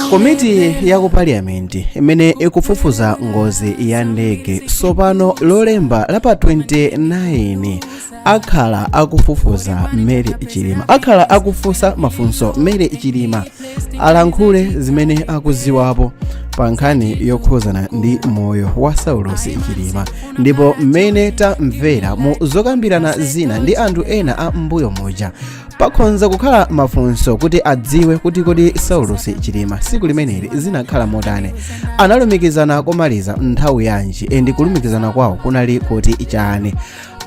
komiti ya ku paliyamenti imene ikufufuza ngozi ya ndege sopano lolemba la pa 29 akhala akufufuza mary chilima akhala akufunsa mafunso mary chilima alankhule zimene akuziwapo pa nkhani yokhuzana ndi moyo wa saulosi chilima ndipo mmene tamvera mu zokambirana zina ndi anthu ena a m'mbuyo muja pakhonza kukhala mafunso kuti adziwe kuti kodi saulosi chilima tsiku limeneli zinakhala motani analumikizana komaliza nthawi yanji endi kulumikizana kwawo kunali koti chani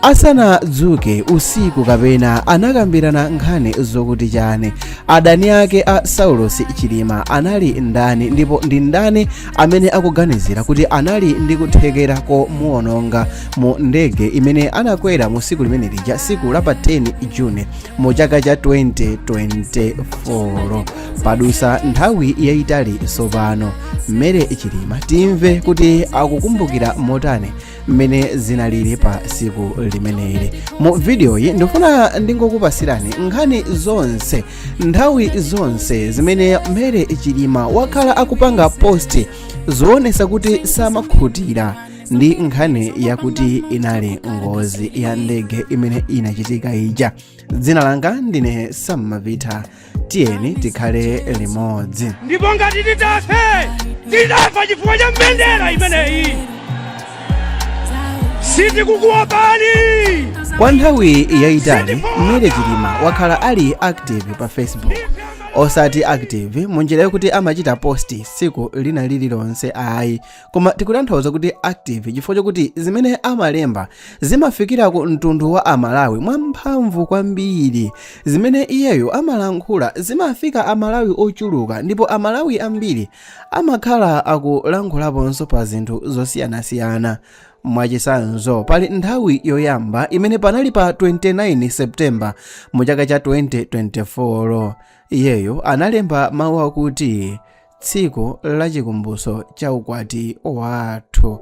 asanadzuke usiku kapena anakambirana nkhani zokuti chani adani ake a saulosi chilima anali ndani ndipo ndi ndani amene akuganizira kuti anali ndi kuthekera komuwononga mu ndege imene anakwera mu siku limene lija siku la pa 10 june mu chaka cha 2024 padusa nthawi yayitali sopano mary chilima timve kuti akukumbukira motani mmene zinalili pa siku limeneli mu vidiyoyi ndifuna ndingokupasirani nkhani zonse nthawi zonse zimene mary chilima wakhala akupanga posti zoonesa kuti samakhutira ndi nkhani yakuti inali ngozi ya ndege imene inachitika ija dzina langa ndine sam mavita tiyeni tikhale limodzi ndipo ngati titafe tidzafa chifukwa cha mbendera imeneyi sitikukuopani kwa nthawi yayitali mary chilima wakhala ali active pa facebook osati active munjira yokuti amachita posti tsiku lina lililonse ayi koma tikutanthauza kuti active chifukwa chokuti zimene amalemba zimafikira ku mtundu wa amalawi mwamphamvu kwambiri zimene iyeyo amalankhula zimafika amalawi ochuluka ndipo amalawi ambiri amakhala akulankhulaponso pa zinthu zosiyanasiyana mwachisanzo pali nthawi yoyamba imene panali pa 29 septemba mu chaka cha 2024 iyeyo analemba mawu akuti tsiku la chikumbutso cha ukwati wathu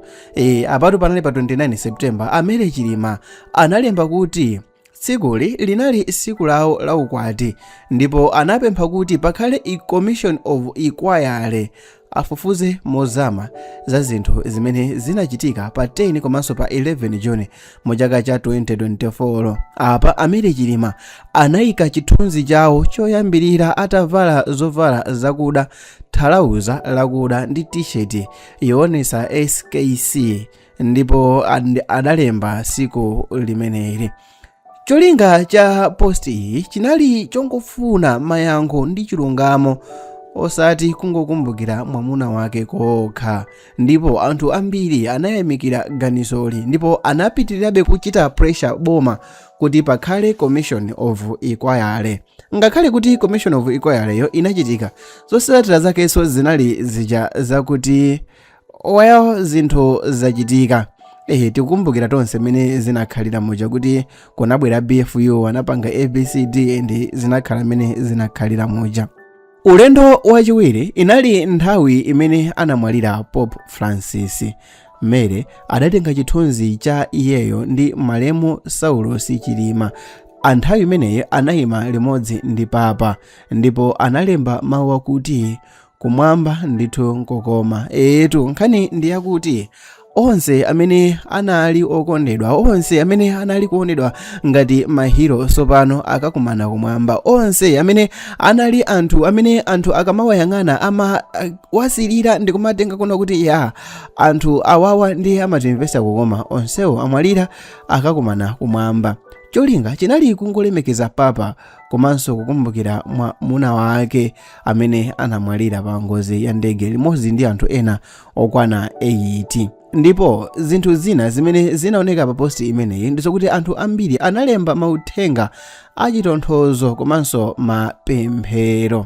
apatu panali pa 29 september a mary chilima analemba kuti tsikuli linali tsiku lawo la ukwati ndipo anapempha kuti pakhale commission of inquiry afufuze mozama za zinthu zimene zinachitika pa 10 komanso pa 11 june mu chaka cha 2024 apa a mary chilima anayika chithunzi chawo choyambirira atavala zovala zakuda thalauza lakuda ndi tisheti yoonesa skc ndipo and- adalemba tsiku limeneli cholinga cha posti iyi chinali chongofuna mayankho ndi chilungamo osati kungokumbukira mwamuna wake kokha ndipo anthu ambiri anayamikira ganizoli ndipo anapitirirabe kuchita pressure boma kuti pakhale commission of inquiry ngakhale kuti commission of inquiry yo inachitika zotsatira zakenso zinali zija zakuti well zinthu zachitika ehe tikukumbukira tonse mmene zinakhalira muja kuti kunabwera bfu anapanga abcd and zinakhala mmene zinakhalira muja ulendo wachiwiri inali nthawi imene anamwalira pope francis mary adatenga chithunzi cha iyeyo ndi malemu saulosi chilima anthawi imeneyi anayima limodzi ndi papa ndipo analemba mawu akuti kumwamba ndithu nkokoma etu nkhani ndi yakuti onse amene anali okondedwa onse amene anali kuonedwa ngati mahiro sopano akakumana kumwamba onse amene anali anthu amene anthu akamawayang'ana amawasilira ndi kumatenga kuno kuti ya anthu awawa ndi amatimvesa kukoma onsewo amwalira akakumana kumwamba cholinga chinali kungolemekeza papa komanso kukumbukira mwamuna wake amene anamwalira pa ngozi ya ndege limodzi ndi anthu ena okwana 8 ndipo zinthu zina zimene zinaoneka pa posti imeneyi ndizokuti anthu ambiri analemba mauthenga achitonthozo komanso mapemphero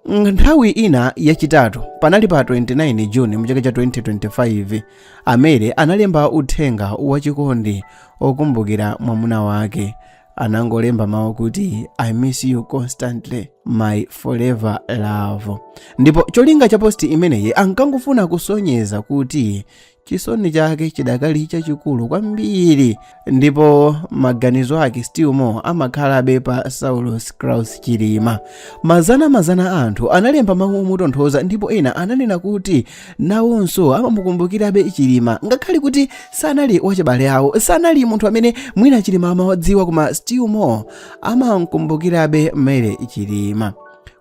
nthawi ina yachitatu panali pa 29 juni mu chaka cha 2025 a mary analemba uthenga wachikondi okumbukira mwamuna wake anangolemba mawu kuti i miss you constantly my forever love ndipo cholinga cha posti imeneyi ankangofuna kusonyeza kuti chisoni chake chidakali chachikulu kwambiri ndipo maganizo ake still more amakhalabe pa saulos klaus chilima mazanamazana a anthu analemba mawu omutonthoza ndipo ena ananena kuti nawonso amamukumbukirabe chilima ngakhale kuti sanali wachibale awo sanali munthu amene mwina chilima amawadziwa koma still more amamkumbukirabe mary chilima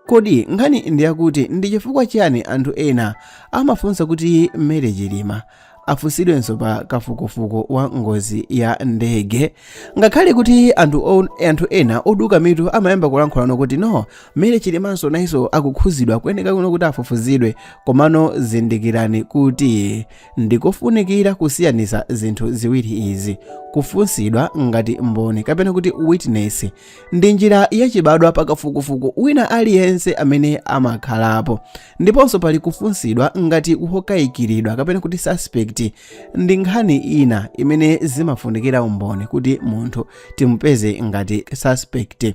kodi nkhani ndi yakuti ndi chifukwa chiyani anthu ena amafunsa kuti mary chilima afunsidwenso pa kafukufuku wa ngozi ya ndege ngakhale kuti anthu, on, anthu ena oduka mitu amayamba kulankhulano kuti no Mary Chilimanso nayenso akuuzidwa kuoneka kuno kuti afufuzidwe komano zindikirani kuti ndikofunikira kusiyanisa zinthu ziwiri izi kufunsidwa ngati mboni kapena kuti witness ndi njira yachibadwa pakafukufuku wina aliyense amene amakhalapo ndiponso pali kufunsidwa ngati wokayikiridwa kapena kuti suspect ndi nkhani ina imene zimafunikira umboni kuti munthu timupeze ngati suspect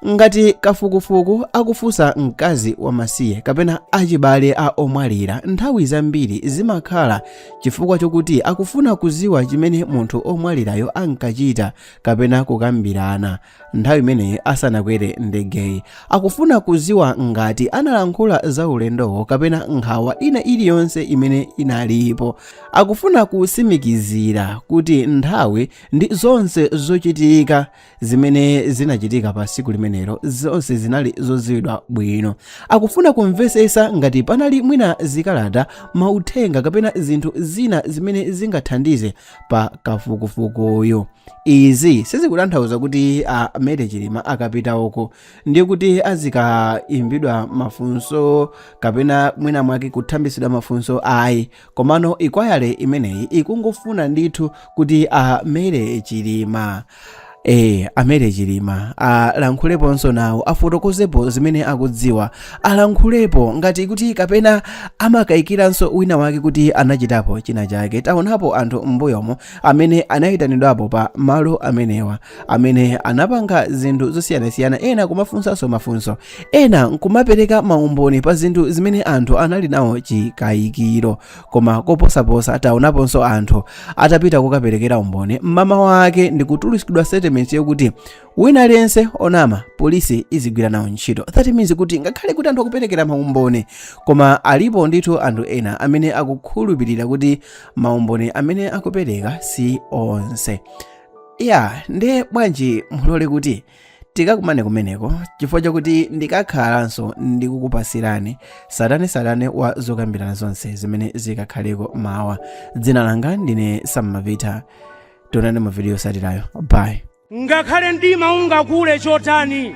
Ngati kafukufuku akufunsa mkazi wamasiye kapena achibale a omwalira, nthawi zambiri zimakhala chifukwa chokuti akufuna kudziwa chimene munthu omwalirayo ankachita kapena kukambirana nthawi imeneyi asanakwere ndegeyi. Akufuna kudziwa ngati analankhula za ulendowo kapena nkhawa ina iliyonse imene inalipo. Akufuna kutsimikizira kuti nthawi ndi zonse zochitika zimene zinachitika pa tsiku limenelo zonse zinali zodziwidwa bwino akufuna kumvetsetsa ngati panali mwina zikalata mauthenga kapena zinthu zina zimene zingathandize pa kafukufukuyo izi sizikutanthauza kuti a mary chilima akapita uko ndiye kuti azikaimbidwa mafunso kapena mwina mwake kuthambisidwa mafunso ayi komano ikwayale imeneyi ikungofuna ndithu kuti a mary chilima ee a mary chilima alankhuleponso nawo afotokozepo zimene akudziwa alankhulepo ngati kuti kapena amakayikiranso wina wake kuti anachitapo china chake taonapo anthu m'mbuyomo amene anayitanidwapo pa malo amenewa amene anapanga zinthu zosiyanasiyana ena kumafunsanso mafunso ena nkumapereka maumboni pa zinthu zimene anthu anali nawo chikayikiro koma koposaposa taonaponso anthu atapita kukaperekera umboni mmama wake ndi kutulutsidwa statement yokuti wina aliyense onama polisi izigwira nawo ntchito that means kuti ngakhale kuti anthu akuperekera maumboni koma alipo ndithu anthu ena amene akukhulupirira kuti maumboni amene akupereka si onse eya nde bwanji mulole kuti tikakumane kumeneko chifukwa chakuti ndikakhalanso ndikukupasirani tsatanetsatane wa zokambirana zonse zimene zikakhaleko mawa dzina langa ndine sam mavita tionane mu video yotsatirayo bye ngakhale mdima ungakule chotani